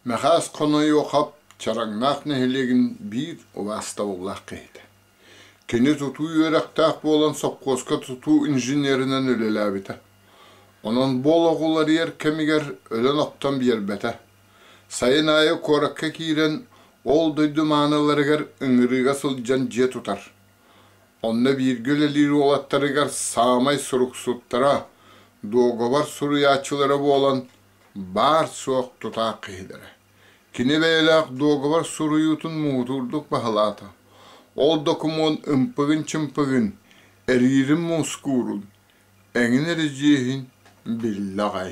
Мэхээс хонойуохап Чараҥнаах нэһилиэгин биир убаастабыллаах киһитэ Кини тутуу үөрэхтээх буолан сопхуоска тутуу инженеринэн үлэлээбитэ. Онон бу олох уларыйар кэмигэр өлөн-охтон биэрбэтэ. Сайын аайы куоракка киирэн, ол дойду мааныларыгар ыҥырыыга сылдьан дьиэ тутар. Онно бииргэ үлэлиир уолаттарыгар саамай суруксуттара, дуогабар суруйааччылара буолан, баар-суох тутаах киһилэрэ. Кини бэйэлээх дуогабар суруйуутун муҥутуурдук баһылаата. Ол докумуон ымпыгын-чымпыгын, эриирин мускуурун, эҥин эридьиэһин биллэ аҕай.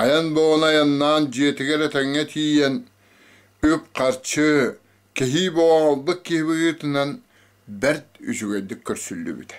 Айан бөҕөнү айаннаан дьиэтигэр этэҥҥэ тиийэн, үп-харчы, кэһии боҕоҕолбут киһи быһыытынан бэрт үчүгэйдик көрсүллүбүтэ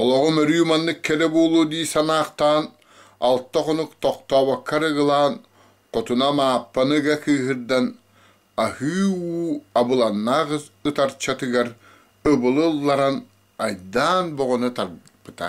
Олоҕум өрүү маннык кэрэ буолуо дии санаахтаан, алта хонук тохтообокко арыгылаан, хотунам Ааппаны ыга кыыһырдан, аһыы-уу абыланнаах ытарчатыгар ыбылы ылларан айдаан боҕоно тарпыта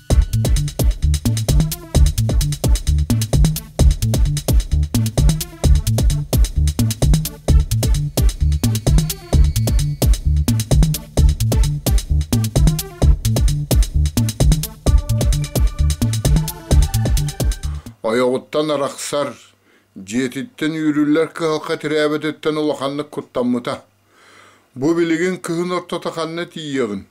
Ойоҕуттан арахсар, дьиэтиттэн үүрүллэр кыһалҕа тирээбэтиттэн улаханнык куттаммыта. Бу билигин кыһын ортото ханна тиийиэҕин?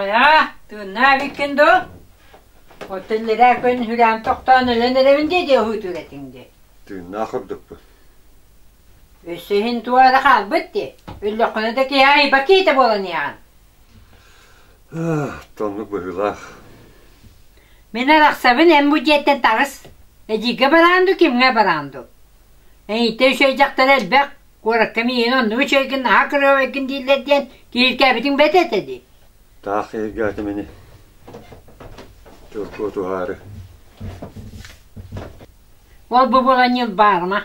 Хайа, тыыннаа эбиккин дуу? Отеллераа күн хүрээн тохтоон өлөн эрэбин дии дии уһуутуур этиҥ дии. Тыыннаах ордукпут. Өссө иһин туох эрэ хаалбыт дии. Өллөххүнэ да киһи айба киитэ буоланыаҕын. Тоннук быһыылаах. Мин арахсабын эн бу дьиэттэн таҕыс. Эдьиийгэ бараан ду, кимҥэ бараан ду. Эйиттэн үчүгэй дьахтар элбэх. Куоракка миигин онну үчүгэйгин, наһаа кырыабайгын дииллэр диэн киһиргээбитиҥ бэт этэ дии. Таах киһиргээтим ини. Чурку тухаары. Ол бу булан ньыл баарма.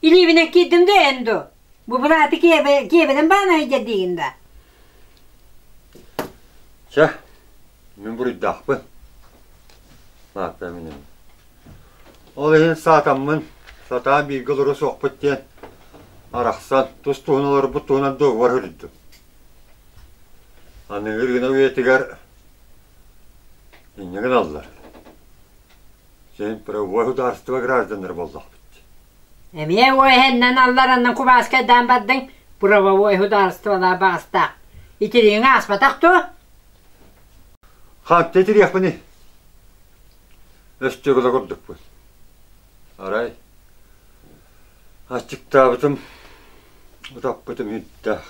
Илиибинэн киирдим да эн дуу? Бу бырааты киэбэ, киэбэнэн баан айдьар диигин да? Чэ, мин буруйдаахпын. Наатта мин эми. Ол иһин саатаммын, сатаа бииргэ олоро суохпут диэн, арахсан, тус-туһун олорбут туһунан дуогугар хүрүттüm. Аныгы ырыына үйэтигэр инньэ гыналлар. Син правовой судаарыстыба гражданнара буоллахпыт. Эмиэ уо эһэннэн аллараннан кубааскайдаан бардыҥ, правовой судаарыстыбалаах баҕастаах. Итириҥи ааспатах дуо? Хантан итириэхпиний? Өстөгүлэ курдукпун. Арай, аччыктаабытым, утаппытым үһүнтээх.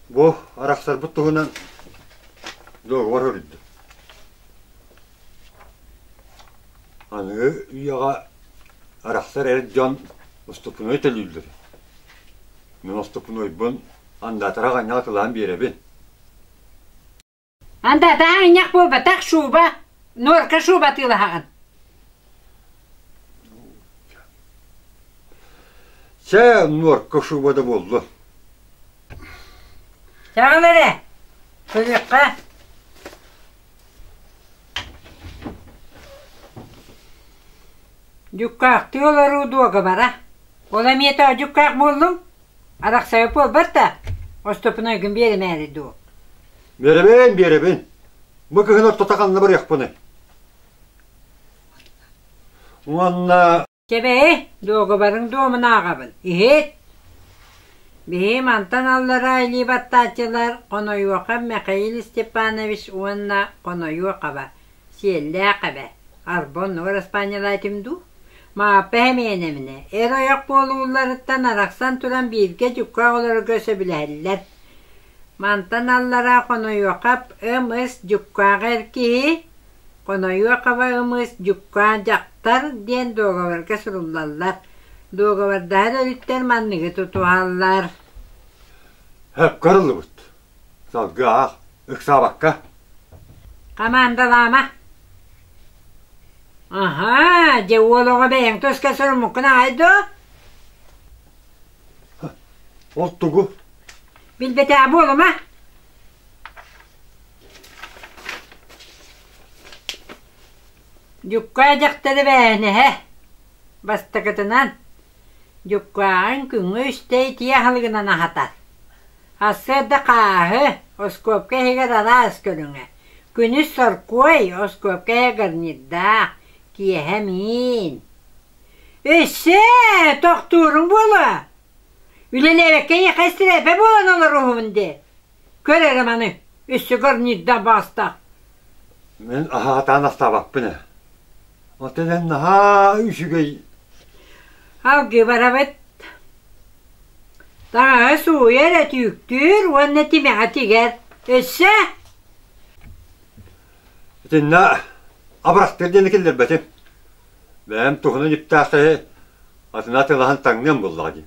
Бу арахсарбыт туһунан договор суруйда. Аныгы үйэҕэ арахсар эр дьон уступунуой төлүүллэр. Мин уступунуойбун андаатара хайнаҕа кылаан биэрэбин Анда таһа инньэх буолбатах шуба, норка шуба атыылаһаҕын Чэ, нуорка шуба да буолла. Чаҕыл эрэ, кыйыкка. Дьуккаахтыы олоруу дуогабара. Ол эмиэ тоодьуккаах буоллуҥ? Арахсайа буолбат да, остуоппуна ойгун биэримээри дуу? Биэрэбин, биэрэбин. Бу кыһын ортото ханна барыахпыный? Уонна... Кэбэйи, дуогабарыҥ дуомунааҕабын, иһит! Биһи мантан аллараа илии баттааччылар Хонойуоха Михаил Степанович уонна Хонойуохаба Сиэллээх эбэ, Арбоннуга распаанньалаа этим дуу? Мааппа Хэмиэнэминэ, эр ойох буолуулларыттан арахсан туран бииргэ дьукка оҕолорго сөбүлэһэллэр. Мантан аллараа хонойуохап ымыс дьуккааҕа эр киһи «Хонойуохаба ымыс дьуккаа дьахтар» диэн дуогабарга суруллаллар. Дуогабардаһар өрүттэр манныгы тутуһаллар: «Өккө арыллыбыт Салгыаҕа, ыксаабакка. Хамаандалаама. Аһаа, дьэ уол оҕо бэйэҥ туска суруммуккун аҕай дуу? Ол тугу? Билбэтээ буолума. Дьуккаа дьахтары бээһинэһэ, бастакытынан, Дьуккааҕын күҥҥэ үстэй итии аһылыгынан аһатар. Ассыарда хааһы, оскуопка иһигэр араас көрүҥэ, күнүс соркуой, оскуопка иһэ гарнирдаах, киэһэ миин. Өссө тохтууруҥ буолуо? Үлэлээбэккэ эйиэхэ истирээпэ буолан олоруһун дии. Көр эрэ маны, өссө горнийда баастаах Мин аһаатаан астаабаппын ээ. Оттон эн наһаа үчүгэй. Алгебаравыт таҥаһы сууйа эрэ түүктүүр уонна тимэҕэ тигэр. Өссө Итиннэ абырастыыр диэни киллэрбэтим. Бэйэм туһунан үптээх киһи атына атылаһан таҥныам буоллаҕа дии.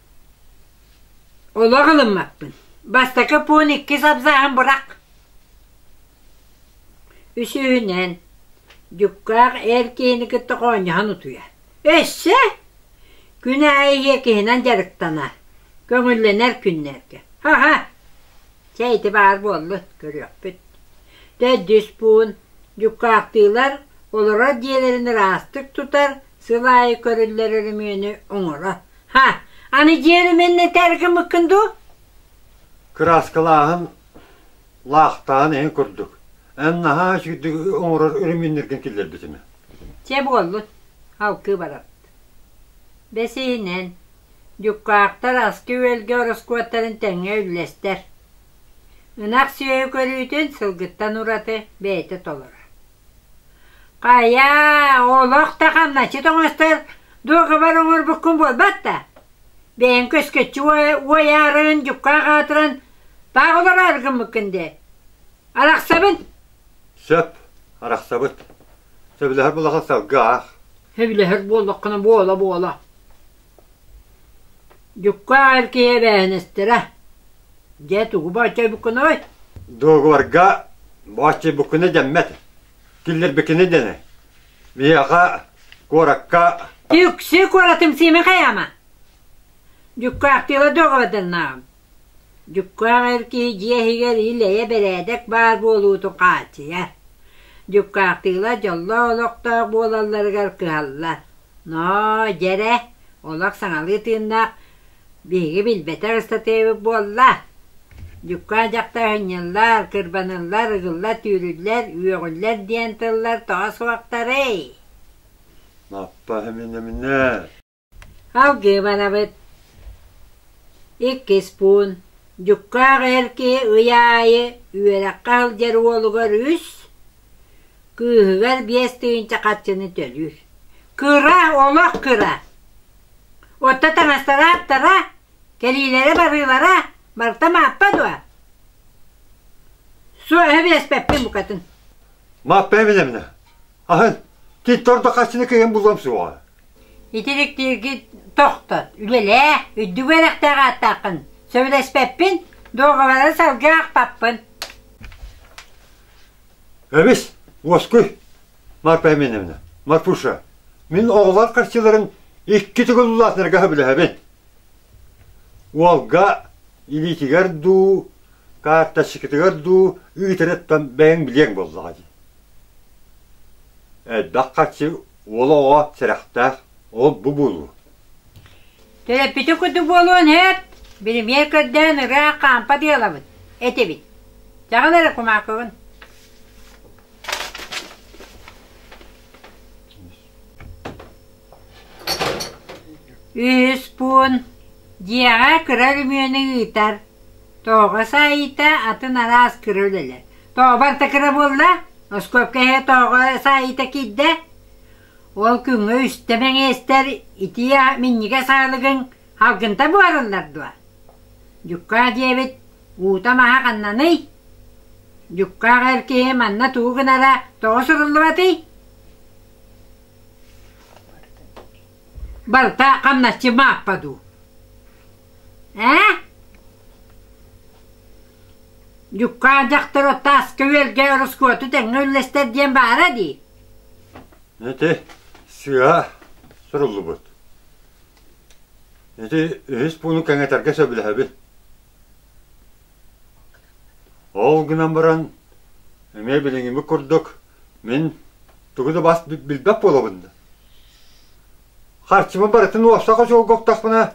Олох ылыммаппын. Бастакы пуун иккис абзаҕын бырах. Үсүһүнэн, дьуккаах эр киһини кытта хоонньоһон утуйар. Өссө күн аайы иэкиһинэн дьарыктанар, көҥүллэнэр күннэргэ. Аха, чэ ити баар буоллун, көрүөхпүт. Төрдүс пуун дьуккаахтыылар олорор дьиэлэрин ыраастык тутар, сыл аайы көрүллэр өрөмүөнү оҥорор. Ha, аны дьиэни мэннэ тээргиммиккин дуу? Кырааскалааһын, лаахтаан эн курдук. Эн наһаа сүүрдүк оҥорор өрөмүннэргин киллэрбитим. Чэ буоллун, алгыы баран. Бэсиһинэн, дьуккаахтар аскы-үөлгэ ороскуоттарын тэҥҥэ үллэстэр. Ынах сүөһү көрүүтүн сылгыттан ураты бэйэтэ толоро. Хайа, олох да хамначчыт оҥостор дуогабар оҥорбуккун буолбат да? Бэйэҥ көскөччү уойаарыгын дьукка хаатыран таах олороор гыммыккын дии. Арахсабын. Сөп, арахсабыт. Сөбүлэһэр булаха салгы аах. Сөбүлэһэр буоллаххына буола буола. Дьукка аар киһи эбээнэстэрэ, дьэ тугу бооччойбуккунуй? Договорга бооччойбуккуна дэммэт, киллэрбиккинэ дэнэ. Биһиэхэ куоракка... Түксү куоратым Сиимэ хайаама? Дьукка Ахтыыла договор дэннааҕым. Дьуккаах эр киһи дьиэ иһигэр ил-эйэ бэрээдэк баар буолуутун хааччыйар. Дьуккаахтыылар дьоллоох олохтоох буолалларыгар кыһаллар. «Ноо, дьэрэ, олох саҥалыы тыыннаах, биһиги билбэтэх ыстатыйабыт буолла?» Дьуккаан дьахтар ынньыллар, кырбаныллар, ыгыллар, түүрүллэр, үөҕүллэр диэн тыллар тоҕо суохтарый? Алгыбанабыт иккис пуун дьуккаах эр киһи ый аайы үөрэххэ сылдьар уолугар үс, кыыһыгар биэс тыһыынча харчыны төлүүр. Кыра, олох кыра. Оттон таҥасталаахтара, кэлиилэрэ-барыылара барыта Мааппа дуо? Суо, өһө биэспэппин букатын. Мааппа эминэ-минэ Аһын, титтор да хаччыны кыйын буллам суоҕа. Итириктииргит тохтот, үлэлээ, үрдүк үөрэхтээх ааттааххын. Сөбүлэспэппин, дуогабары салгыы ахпаппын. Эмис, Уоскуй, Марпа Эминевна, Матфуша, мин оҕолор харчыларын икки тыгыллаатынарга сөбүлэһэбин. Уолга илиитигэр дуу, карточкатыгар дуу ыытарыттан бэйэҥ билиэҥ буоллаҕа дии. Элбэх хаччы уол оҕо сэрэхтээх, ол бу буолуо Төрөппүтү курдук буолуон эт, биримиэр көрдөөн ыраах хаампа дыалабыт, этибит. Дьаҕан эрэ кумаакыбын. Үһүс пуун дьиэҕэ кыра өрөмүөнү ыытар. Тоҕо саайыыта атын араас кыра үлэлэр. Тоҕо барыта кыра буолла? Оскуопка иһэ тоҕо саайыыта киирдэ? Ол күҥҥэ үстэ мэҥиэстэр итии минньигэс аалыгыҥ алгынта буолаллар дуо? Дьуккаа диэбит уута-маһа ханнаный? Дьуккаах эр киһи манна тугу гынара тоҕо суруллубатый? Барыта хамначчы Мааппа дуу ээ Дьукаан дьахтору тааска үөлгэ ороскуоту тэҥҥэ үллэстэр диэн баара дии Ити сыа суруллубут Ити үһүс пууну кэҥэтэргэ сөбүлэһэбин Ол гынан баран эмиэ билиҥҥимик курдук мин тугу да бас билбэт буолабын да харчыбын барытын уопсай хочуолга уктахпына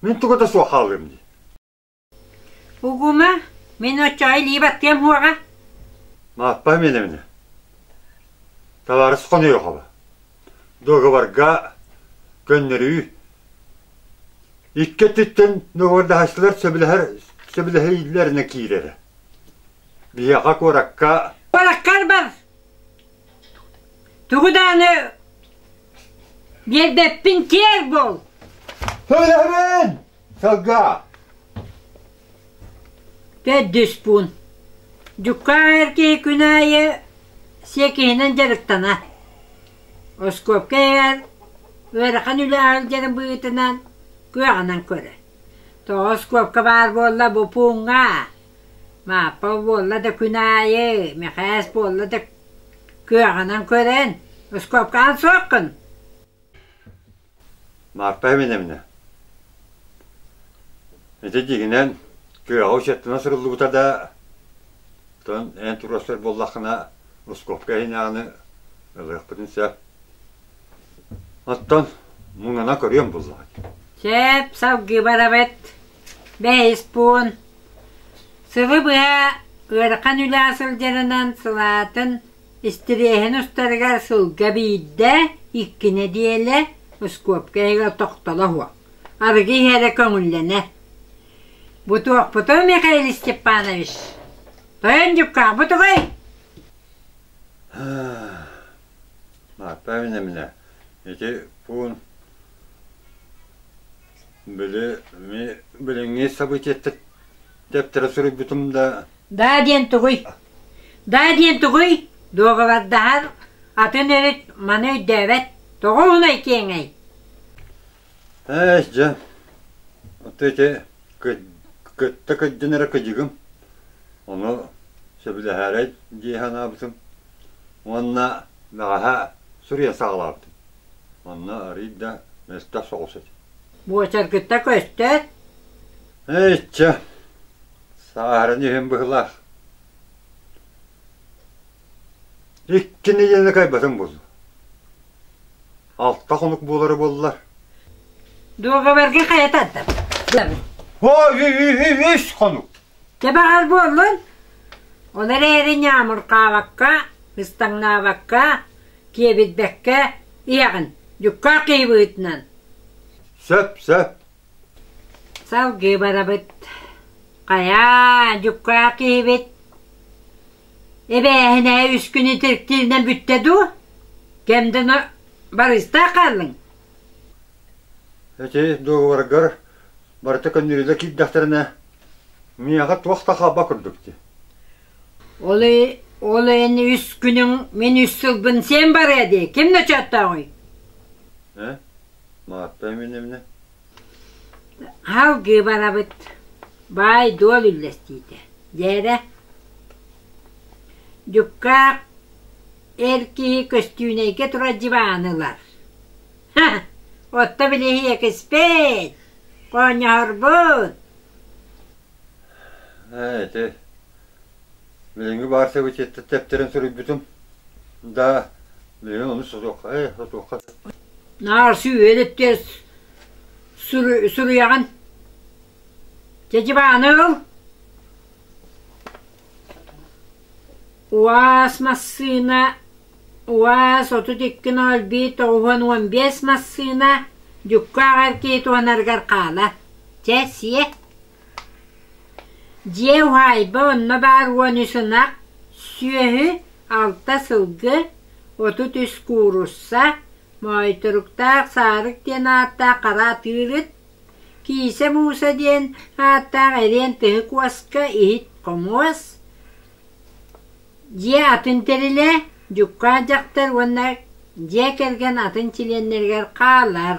мин тугу да суох хаалыам дии Угума мин отчаайы илии баттыам хуоҕа Мааппа Миэнэминэ Талаарыс хонуйохоба Договорга көннөрүү икки өттүттэн договордаһааччылар сөбүлэһэр сөбүлэһиилэринэ киирэрэ. Биһиэхэ куоракка Куораккар бар. Тугу дааны биэрбэппин киэр бол. Сөбүлэһэбин! Сылга Төрдүс пуун Дьукаах эр киһи күн аайы сиэкиһинэн дьарыктанар. Оскуопка эйэҕэр ыарахан үлэ алдьаран быһыытынан кыаҕынан көрөр. Тоҕо оскуопка баар буолла бу пууҥҥа? Мааппа буолла да күн аайы, Мэхээс буолла да кыаҕынан көрөн, оскуопкаҕын суоххун. Марпа Эминэминэ ити дьигинэн күөҕэ учеттана суруллубута да отон эн туруорсар буоллаххына Русковка иһинээҕини ылыахпытын сөп оттон муҥана көрүөн буллаҕыт Чээп салгыы барабыт бэһис пуун сылы быһа ыарахан үлэ сылдьарынан сылаатын Истириэһин устарыгар сылга биирдэ, икки нэдиэлэ оскуопка иһигэр тохтоло суох, арыгы иһэрэ көҥүллэнэр. «Бу туохпутуй, Михаил Степанович? Тойон Дьукаахпыт угай?» Наталья Иннамина, ити пуун били билиҥҥи событиеттар тэптэрэ суруйбутум да Даа диэн тугуй? Даа диэн тугуй? Дуоҕабардаһар атын өрүт маны өйдөөбөт. Тоҕо уһунай киэҥэй? Эс, дьэ, ты эти кытта кыддьынара кыдьыгым, ону сөбүлэһэрэй дии санаабытым уонна бэҕэһэ суруйа саҕалаабытым. Онно арыйда мөлтөх соҕус этэ. Буочаргытта көстөөт? Эччэ, Саарын иһин быһылаах. Иккини диэни кайбатым булду. Алта хонук буолара буоллар. Дуогабарга хайататтам. О, үс хонук. Кебаҕар буоллун. Оны эрээри ньаамуркаабакка, ыстаҥнаабакка, киэбитбэккэ, иэҕин, дьукка киибыытынан. Сөп, сөп. Салгыы барабыт. Хайаа, дьуккаах киһибит. Эбээһинэһэ үс күнү тиркииринэн бүттэ дуу? Кэмдэнэ барыыстаах хааллыҥ? Ити дуогабаргар барыта көннөрүүлэр киирдэхтэринэ, миэхэ туох да хаалба курдук дии. Ол ол эн үс күнүҥ мин үс сылбын сиэн барыа дии, ким ночооттооҕуй? Ээ? Маатта Эминемне Хал Гыбарабыт баай-дуол үллэстиитэ Дээрэ Дьуккаах эр киһи көстүүнэйгэ турар дьыбааны ылар Отто билиһийэ киспэт Хоонньоһорбут Ээ ити Билиҥҥи баар собитеттар тэптэрин суруйбутум. Да, билигин ону сотуохха, э, сотуохха. Наарсы үөдэттер суруйаҕын? Чечебааныл? УАЗ массыына УАЗ отут икки нөл биир тоҕуһун уон биэс массыына дьукка аҕар киит уонарыгар хаала. Чэ, сиэ. Дьиэ уһаайба онно баар уон үс ынах, сүөһү, алта сылгы, отут үс куурусса, моойторуктаах Саарык диэн ааттаах хара атыырыт, Киисэ Мууса диэн ааттаах эриэн тыһык уоска иһит хомуос, дьиэ атын тэрилэ, дьукаан дьахтар уонна дьиэ кэргэн атын чилиэннэригэр хаалар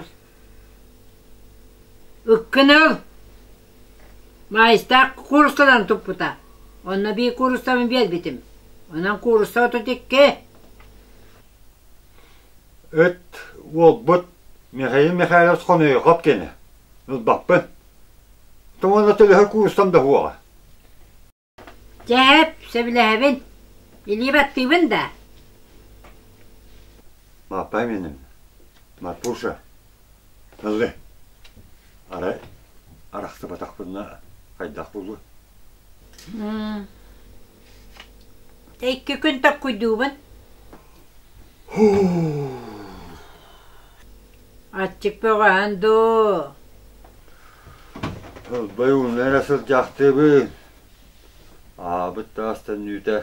Ыккыныл Маайыстаах куурусканан туппута, онно биир куурустабын биэрбитим, онон куурусса отут икки Ыт, уолбут Михаил Михайлович Хонойхоп кини, ылбаппын. Туонна төлөһөр куурустам да суоҕа Дьээп, сөбүлэһэбин. Илии баттыыбын да? Маппам иним, Маппуша, ылы. Арай арахсыбатахпынна хайдах булуой? Дьэ икки күн tokkуйдуубун. Аччык бөҕөһөн дуу? Ылбай ууну эрэ сылдьаахтыыбын. Аабыт таастан үүтэ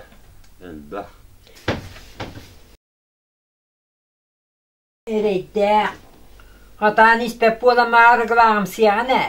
элбэх. Эрэйдээх. Хатаан испэт буолан арыгылааҕымсыйаҕын ээ.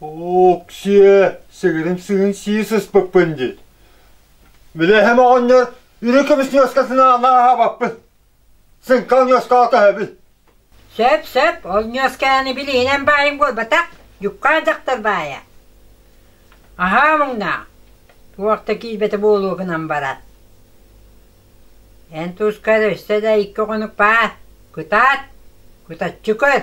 Уксия, сыгырым сыгын сии сыспыппын диир. Билэһэм оҕонньор үрү көмүс ньуоскасын аана аһабаппын. Сыҥкал ньуоскаҕа көһөбүн. Сөп-сөп, ол ньуосканы билиинэн баайым буолбатах, дьуккаа дьахтар баайа. Аһаа муҥнаах, туох да киирбэтэ буолуо гынан барар. Эн туска да өссө да икки хонук баар, кытаат, кытаччы көр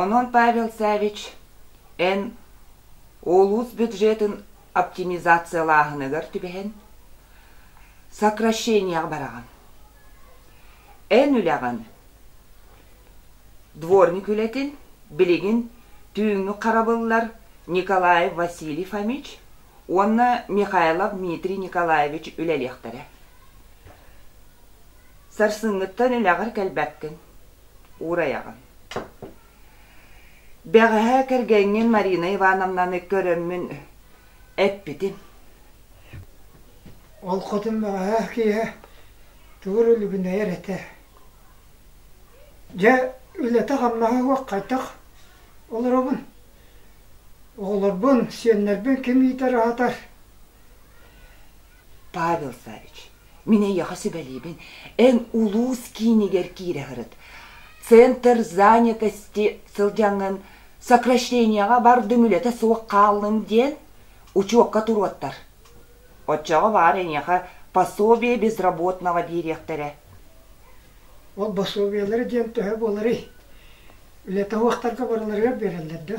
Онон Павел Саввич эн улуус бюджетын оптимизациялааһыныгар түбэһэн, сокращениеҕа бараҕын. Эн үлэҕин, дворник үлэтин билигин түүҥҥү харабыллар Николаев Василий Фомич уонна Михайлов Дмитрий Николаевич үлэлиэхтэрэ. Сарсыҥҥыттан үлэҕэр кэлбэккин. уурайаҕын. Бэҕэһээ кэргэҥҥин Марина Ивановнаны көрөммүн эппитим Ол хотун бэҕэһээ киэһэ тугу үлүбүнэйэр этэ. Дьэ, үлэтэ-хамнаһа суох хайдах олоробун? Оҕолорбун, сиэннэрбин ким иитэр-аһатар? Павел Савич, мин эйиэхэ сүбэлиибин, эн улуус киинигэр киирэ сырыт. Центр занятости сылдьаҥҥын, сокращенияҕа бардым, үлэтэ суох хааллым диэн учуокка туруоттар. Оччоҕо баҕар эйиэхэ пособие безработного биэриэхтэрэ. Ол босуобуйалары диэн төһө буоларый? Үлэ таһыахтарга барыларыгар биэрэллэр да?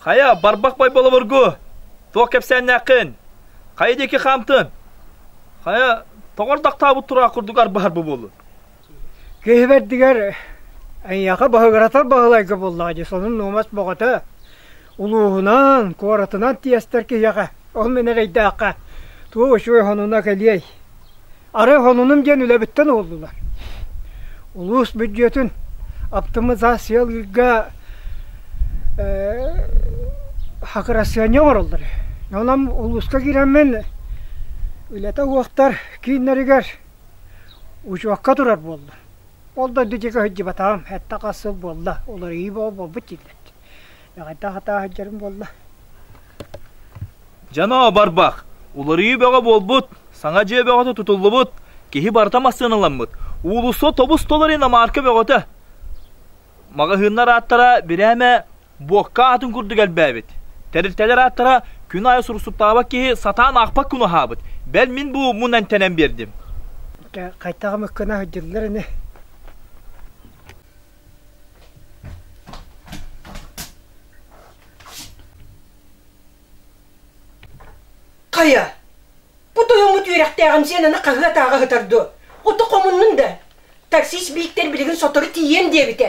Хайа, барбах бай болобургу, туох кэпсээннээххин? Хайа диэки хаамтын? Хайа, тоҕордахтаабыт тураах курдук арбаһар бу буоллун? Киһи бэрдигэр эйиэхэ баһыгыратар баһылайга буоллаҕа дии, сонун нуумас боҕото. Улууһунан, куоратынан тиэстэр киһиэхэ, ол мин эрэйдээххэ, туох үчүгэй хонуна кэлиэй. Арай хонунум диэн үлэбиттэн уоллулар. Улуус бүддьүөтүн оптимизациялыырга хакырасыанньа оҥороллор үһү. Онон улууска киирэммин үлэтэ уохтар кииннэригэр учуокка турар буоллум. Ол да дойдутугар сылдьыбатаҕым, сэттэ-хас сыл буолла, уларыйыы буолбут дииллэр. Эҕэрдэ хатаа сылдьарым буолла. Дьанаа барбах, уларыйыы бөҕө буолбут, саҥа дьиэ бөҕөтө тутуллубут, киһи барыта массыаналаммыт, уулусса тобус толору иномарка бөҕөтө. Маҕаһыыннар ааттара бирээмэ буокка атын курдук элбээбит. Тэрилтэлэр ааттара күн аайы сурсуттаабат киһи сатаан аахпат күн аһаабыт. Бэл мин бу мун эмтэнэн биэрдим. Хайдах мыккына сылдьыллар ини? Хайа, бу тойоҥҥут үөрэхтээҕим Зенаны хаһыат ааҕа сытар дуо? Ото хомуннун да, таксист бииктэр билигин сотору тиийиэн диэбитэ.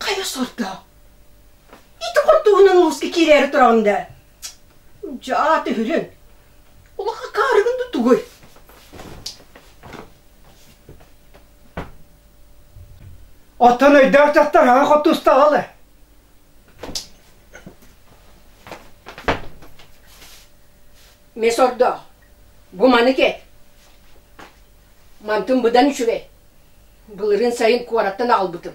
Хайа сордо? Ити хортуһунан мууска киирээри тураҕын да? Дьаа түһүлүн. Улаха каарыгын да тугуй? Оттон өйдөөх дьахтарга хоттустаҕалы. Месордоох, бу маны кэт. Мантым быдан үчүгэй. Былырын сайын куораттан аҕалбытым.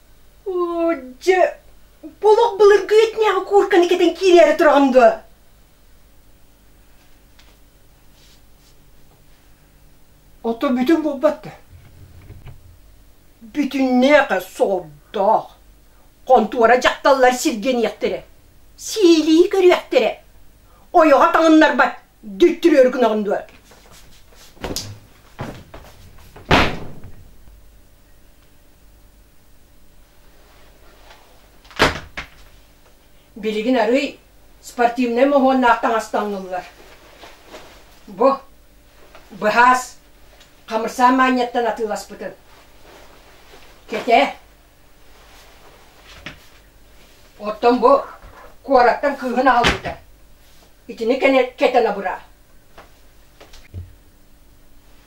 Дьэ, олох былыргы этнээҕи куурканы кэтэн киирээри тураҕын дуо? Ото бүтүн буолбат да. Бүтүннээх солдоох. Хонтуора дьахталлар сиргэниэхтэрэ. Сиилии көрүөхтэрэ. Ойоҕо таҥыннарбат дүттүрүөр гынаҕын дуо? Билигин арыый спортивнай моһуоннаах таҥас таҥыллар. Бу быһаас хамырсаан маанньаттан атыыласпытын. Кэтээ. Оттон бу куораттан кыыһын аҕалбыта. Итини кэтэн абыра.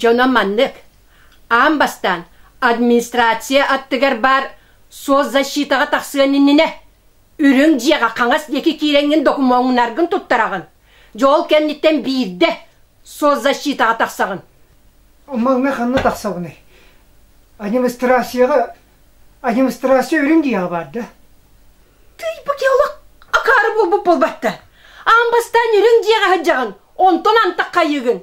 Дьоно маннык, аан бастаан администрация аттыгар баар соцзащитаҕа тахсыан иннинэ Үрүҥ дьиэҕэ хаҥас диэки киирэҥҥин докумуоҥнаргын туттараҕын. Дьол кэнниттэн биирдэ соцзащитаҕа тахсаҕын. Оммоҥҥа ханна тахсабыный? Администрацияҕа администрация үрүҥ дьиэҕэ баар да? Тый, бу геолог акаары буолбут буолбатта. Аан бастаан үрүҥ дьиэҕэ сылдьаҕын, онтон антах хайыыгын.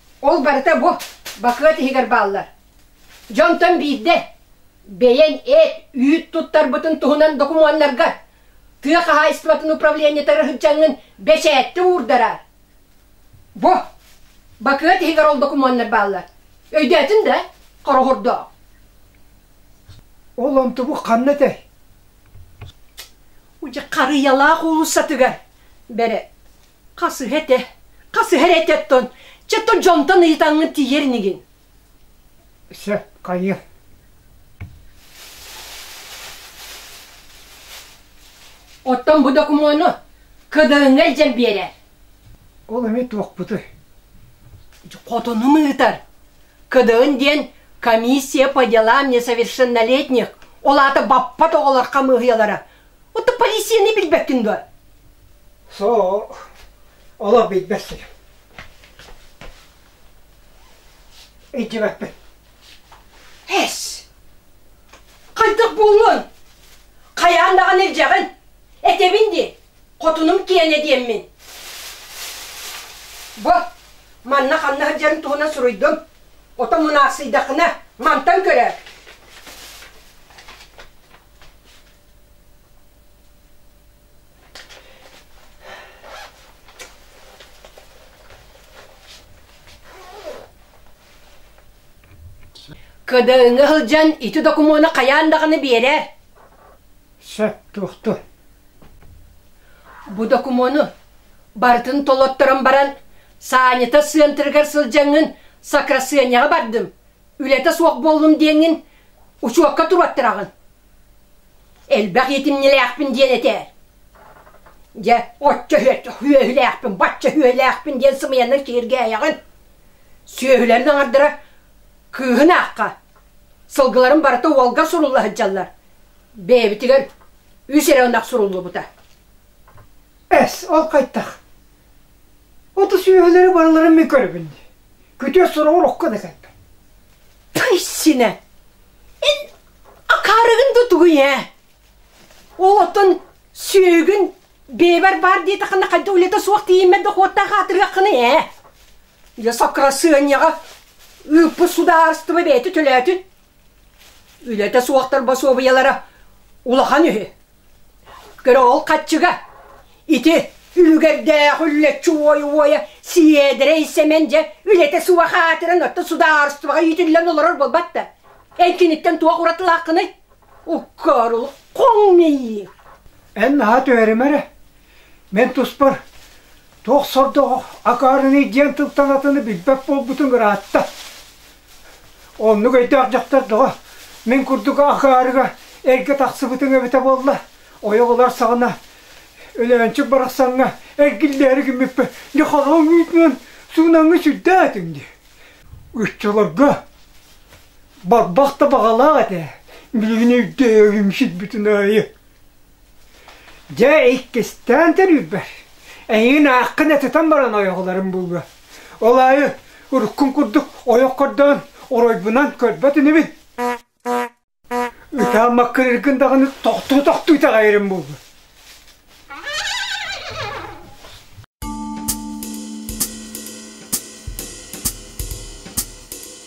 Ол барыта бу бакыат иһигэр бааллар. Дьонтон биирдэ бэйэн эт, үүт туттарбытын туһунан докумуоннарга тыа хаһаайыстыбатын управлениетыгар сылдьаҥҥын бэчээттэ уурдараар. Бу бакыат иһигэр ол докумуоннар бааллар. Өйдөөтүн да хороһордоох. Ол онтубу ханна этэй? Удьы харыйалаах уулуссатыгар бэрэ Хасыһа этэ, хасыһа эрэ эт оттон, чэ то дьонтон ыйытаҥҥын тиийэр инигин. Сөп, хайы. Оттон бу докумуону КДН илдьэн биэрэр. Ол эмиэ туохпутуй? Хотону ыытар. КДН диэн комиссия по делам несовершеннолетних, ол аата баппат оҕолор хамыыһыйалара. Отто полицияны билбэккин дуо? Сoo, олох билбэт сир. Илдьибэппин. Эс! Хайдах буллун? Хайаан даҕаны илдьэҕин? Этэбин дии, хотунум киэнэ диэммин. Бу, манна ханна сылдьарын туһунан суруйдум. Ото мунаахсыйдаххына, мантан көрөөр. Кыдыыҥы сылдьан ити докумуону хайаан даҕаны биэрэр. Сөп туохту? Бу докумуону барытын толотторон баран Санята сыантырыгар сылдьаҥҥын сакрасыанньаҕа бардым. Үлэтэ суох буоллум диэҥҥин учуокка туруоттараҕын. Элбэх иитимньилээхпин диэн этээр. Дьэ, оччо сүөһүлээхпин, бачча сүөһүлээхпин диэн сымыйанан киһиргээйэҕин. Сүөһүлэрин аҥардара кыыһын аахха, сылгыларын барыта уолга сурулла сылдьаллар. Бэйэбитигэр үс эрэ ынах суруллубута. Эс, ол хайтах? Оту сүөһүлэри барыларын мин көрөбүн. Күтүө сура урукку да кэлбэт. Пыйсинэ! Эн Акаарыгын да тугуй ээ? Олоттон сүөгүн бэбэр баар диэтэххинэ хайда улета суох тиийиммэт дохуоттаах аатырыаххыный ээ? Я сокрасыанньаҕа ыыппыт судаарыстыба бэйэтэ төлөөтүн. Үлэтэ суохтар босуобуйалара улахан үһү. Көрө ол хаччыга. Ити үлүгэрдээх үллэччи уойу-уойа Сиэдэрэй Сэмэн дьэ үлэтэ суох аатыран отто судаарыстыбаҕа иитиллэн олорор буолбат да. Эн киниттэн туох уратылааххыный? Уккаарыл хоҥ мийии. Эн наһаа түһэримэ эрэ. Мин туспар туох сордоҕо акаарыный диэн тылтан атыны билбэт буолбутун ыраатта. Оннук өйдөөх дьахтар доҕо мин курдук акаарыга эргэ тахсыбытыҥ эбитэ буолла, ойоҕолор саҕана Өлөөнчүк барахсаҥҥа эргиллээри гиммиппин нехороҥ үүтүнэн суунаҥҥа сүрдээтиҥ дии. Ыччаларга барбах да баҕалаах этэ, билигин өйдөөбүм сирбитин аайы Дьэ, иккистээн төлүүрбэр эйигин ааххын этитэн баран ойоҕолорум буолуо. Ол аайы уруккун курдук ойох көрдөөн оройбунан көрбөт инибин. Ытаан маккырыргын даҕаны тохтуу тохтуу итэҕэйэрим буолуо.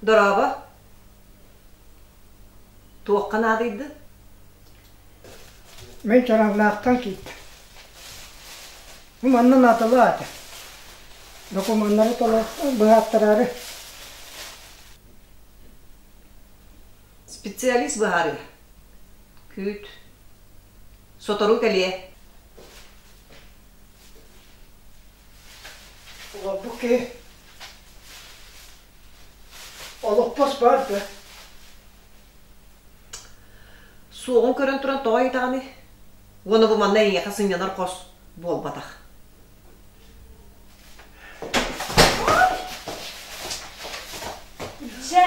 Дорообо. Туохха наадыйды? Мен Чаранлаахтан киитtä. Ну, манна наадалаата. Докумуоннары толо быһааттараары. Специалист быһаарыа. Күүт. Сотору кэлиэ. Олордук киһи Олохпос бар да. Суоҕун көрөн туран тоҕо ыйдаҕыный? Уона бу манна эйиэхэ сынньанар хос буолбатах. Дьэ.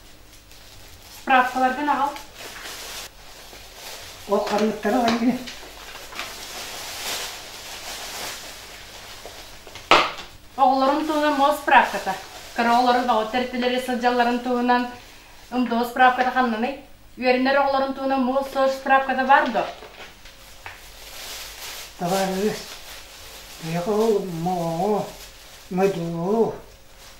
Справкаларгын аҕал. Ол харыыттары ылан иһин. Оҕолорун туһунан мол справката. Кыра оҕолору бөҕө тэртилэри сылдьалларын туһунан МДО справката ханнаный? Үөрэнэр оҕолорун туһунан мол сол справката бар до? Товарищ, Михаил Моҕоо, МДО,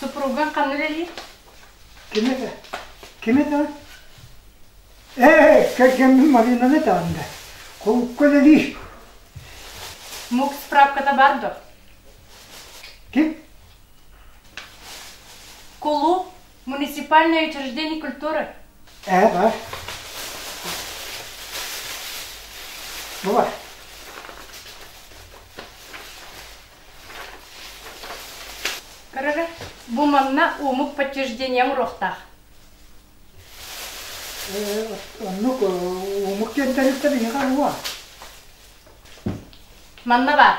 Супруга ханна үлэлиир? Ким это? Ким это? Э, кэргэммин Маринаны таанды. Холукка үлэлиир. Мук справката бар дуо? Ким? Кулу Муниципальное учреждение культуры. Ээ-э. Була. Көрөрө, бу манна омук подтверждением рохтах. Оннук омук кенттериттен иһиға була. Манна бар.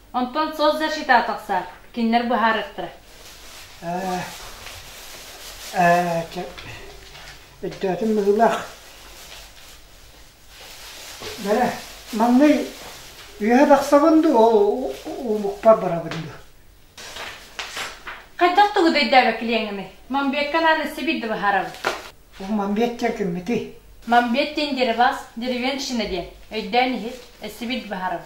Онтон соцзащита тахсар. Кинилэр быһаарыахтара. Ээ, чэ, өйдөөтүм быһыылаах. Бэрэ, манный үөһэ тахсабын дуу, ол омукпар барабын дуу? Хайдах тугу дөйдөөбө килиэҥими? Мамбетка анаан сибит да быһаарабын. Бу Мамбетча киммитий? Мамбет диэн диэри бас, деревенщина диэн, өйдөөн иһит, эссибит быһаарабын.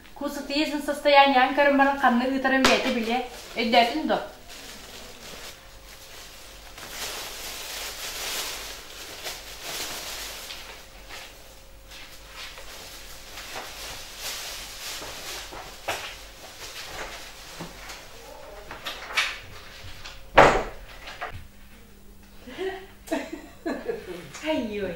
Куусутыйа дьон состояние аҥкарым баран ханна ыытарын бэйэтэ билиэ, өйдөөтүн дуо? Айой.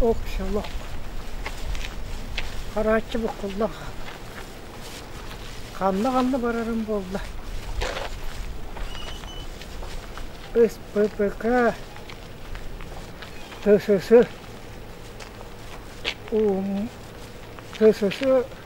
Ох, шалох. Харааччы буккуллах. Ханна-ханна барарым буолла? СППК ССС ТСС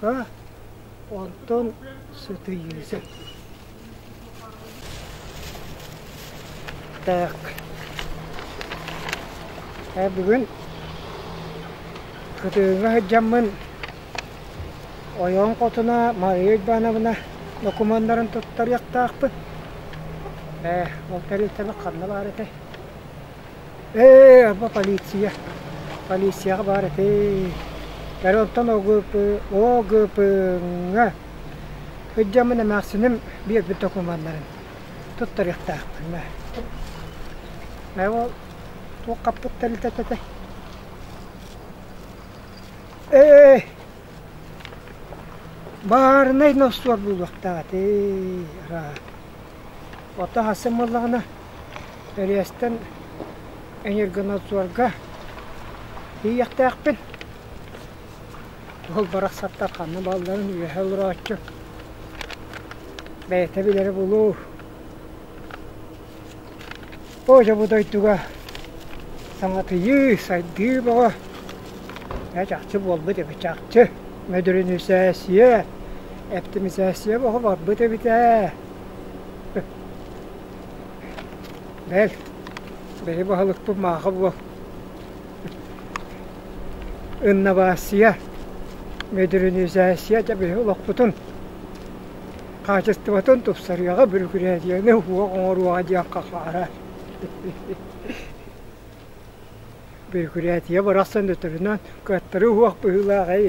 Ка, онтон сытыйыыса. Так. Э, бүгүн кытыыга сылдьаммын ойоон хотуна Мария Ивановна докумуоннарын туттарыахтаахпын. Э, ол тэрилтэбэ ханна баар этэй? Ээ, бу полиция. Полицияҕа баар этэ. Бары онтон ОГП-ҥа ылдьаммын эмээхсиним биэрбит докумуоннарын туттарыахтаахпыҥ. Ээ, ол туох хаппыт тэрилтэтэ этэй? Ээ, баарынай носкуор булуохтаах этэ. Араа. Оттон сарсын буоллаҕына Реестэн энергонадзорга тиийиэхтээхпин. Ол барахсаттар ханна баалларын үөһэ олорооччу бэйэтэ билэрэ булуу. Ося бу дойдуга саҥатыйыы, сайдыы бөҕө ээ чахчы буолбут эбит, чахчы. Модернизация, оптимизация бөҕө барбыт эбит ээ. Бэл, бэйэ баһылыкпын мааха буол. Инновация, модернизация дьэ биһи олохпутун хаачыстыбатын тупсарыаҕа бүрүкүрээдиэни уһуох оҥоруоҕа диэххэ хаарар бүрүкүрээтийэ барахсан өтөрүнэн кыаттары уһуох быһыылаах ээй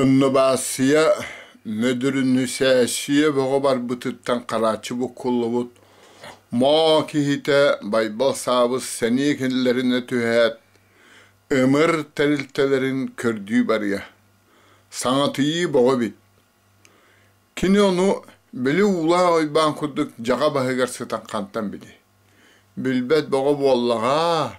Оннубаасыйа Нөдүрүнүсээссийэ бөҕө барбытыттан харааччы буккуллубут Моо киһитэ Байбал Саабыс сэниэ кинилэринэ түһээт, ымыр тэрилтэлэрин көрдүү барыа, саҥатыйыы бөҕө эбит. Кини ону били уулаах уйбаан курдук дьаҕа баһыгар сытан хантан билиэй, билбэт бөҕө буоллаҕаа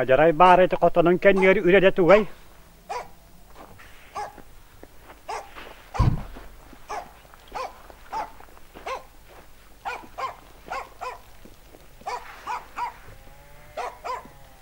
Адьарай баар ити хотонун кэнниэр үлэдэ тугай?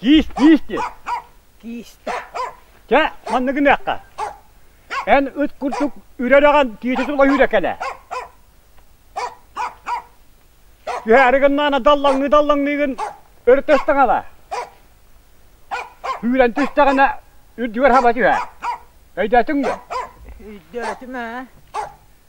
Киис, киис диэн. Киистэ. Чэ, манна гыныахха. Эн ыт курдук үрэр аҕан тиити сулайыыра кэлэ. Түһээри гыннаана даллаҥныы-даллаҥныыгын өртөстөҥ ала. Сүүрэн түстэҕинэ үрдүгэр хаба түһээр. Өйдөөтүҥ бу? Өйдөөтүм ээ.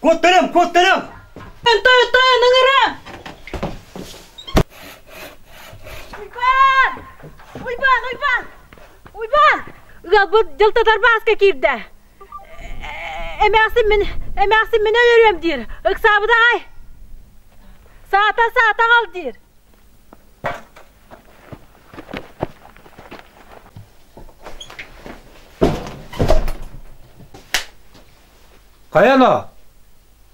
Куоттарым, куоттарым! Энтой, Энтой, анаңара! Уйбаан! Уйбаан, Уйбаан! Уйбаан! Ыалбыт дьылтатар бааска киирдэ. Эмээхсин мин, эмээхсин мин өлөрүөм диир. Ыксаабыт аҕай. Саата, саата аҕал диир. Хайа но?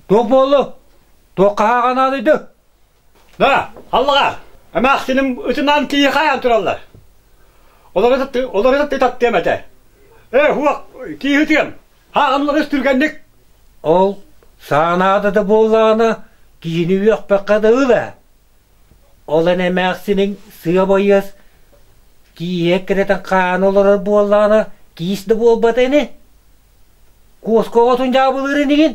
Туох буоллу? Туохха хааҕанааны ду? Да, аллаҕа! Эмээхсиним ытынаан киһи хайаан тураллар. Олору таттыам этэ. Э, уох, киһи ытыам. Хааҕанлары сүргэнник. Ол саанаада да буоллаҕына, киһини үөхпэххэ да ыла. Олон эмээхсиниҥ сыабайыас киһиэ кирэтэн хаана олорор буоллаҕына, киис да буолбат ини? Куоска оҕотун дьаабылыырын игин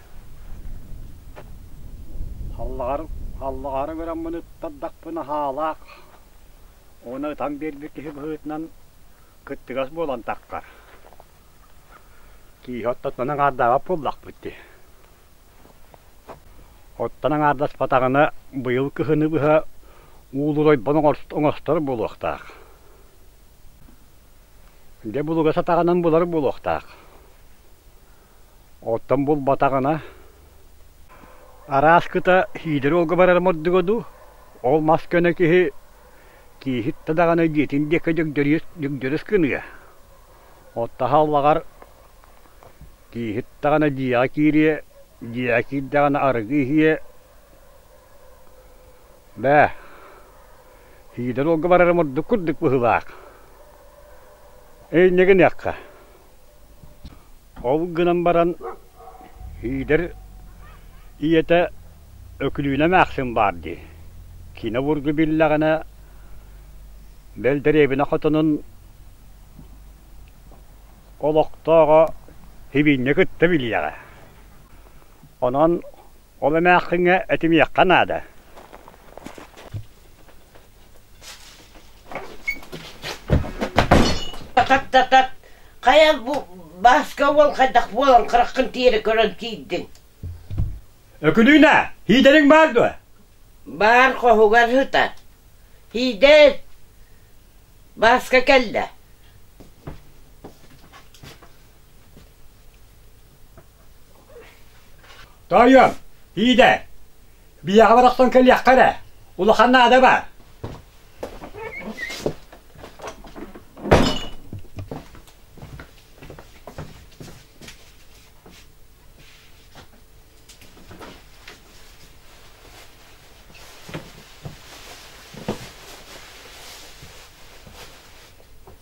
Аллаҕары гыраммын ыттардахпын аһаалаах уонна ытан биэрбит киһи быһыытынан кыттыгас буолан таххар. Киһи оттон аҥаардаабат буоллахпыт дии. Оттон аҥаардаспатаҕына быйыл кыһыны быһа уулурайбан оҥостор буолуохтаах. Дьэ булуга сатаҕынан булар буолуохтаах. Оттон булбатаҕына, араас кыта Сиидэр уолга барар мордуга дуу, ол мас көнө киһи кииһиттэ даҕаны дьиэтин диэки дүгдүрүс гыныа. Оттон аһаллаҕар кииһит даҕаны дьиэҕэ киириэ, дьиэҕэ киирдэҕинэ арыгы иһиэ. Бээ, Сиидэр уолга барар мордук курдук быһыылаах. Инньэ гыныахха. Ол гынан баран Иидэр ийэтэ Өкүлүүнэ эмээхсин баар дии, киинэ обургу биллэҕинэ бэл дэриэбинэ хотонун олохтооҕо Сибиинньэ кытта билиэҕэ. Онон ол эмээхсиҥҥэ этимиэххэ наада Такат-татат, хайа бу Бааска уол хайдах буолан хараххын тиэрэ көрөн киирдиҥ? Өкүлүүнэ, һиидэриҥ баар дуо? Баар хоһугар сытар. Һиидэр, Бааска кэллэ. Тоойуом, Пиидэ, биһиэхэ барахсан кэлиэххэ эрэ, улахан наада баа.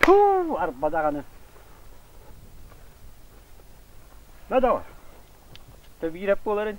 Туу, арба даҕаны. Бөдө, төбиирэп буоларын.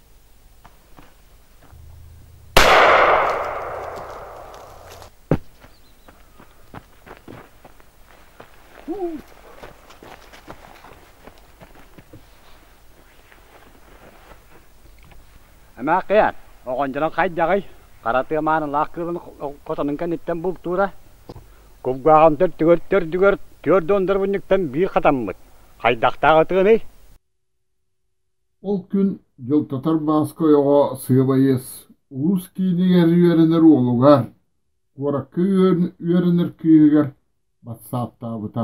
Эмээхийэн, оҕондьорон хайдаҕый? Хара тыамаанын лаах кыылын котонун кэнниттэн бултуура. Кулгааҕын төрдүгэр төрдүгэр түөрт уондарбынньыктан биир хатаммыт. Хайдахтаах атыыный? Ол күн Дьылтатар Бааска ойоҕо сыабайыас улуус киинигэр үөрэнэр уолугар, куоракка үөрэнэр кыыһыгар батсааптаабыта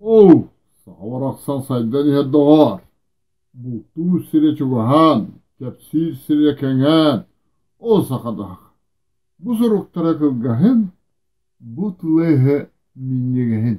Оо, саха барахсан сайдан иһэр доҕоор, бултуур сирэ чугаһаан, кэпсиир сирэ кэҥээн, оо сахадах, бу суруктара кылгаһын, бу тлыһы минньигэһин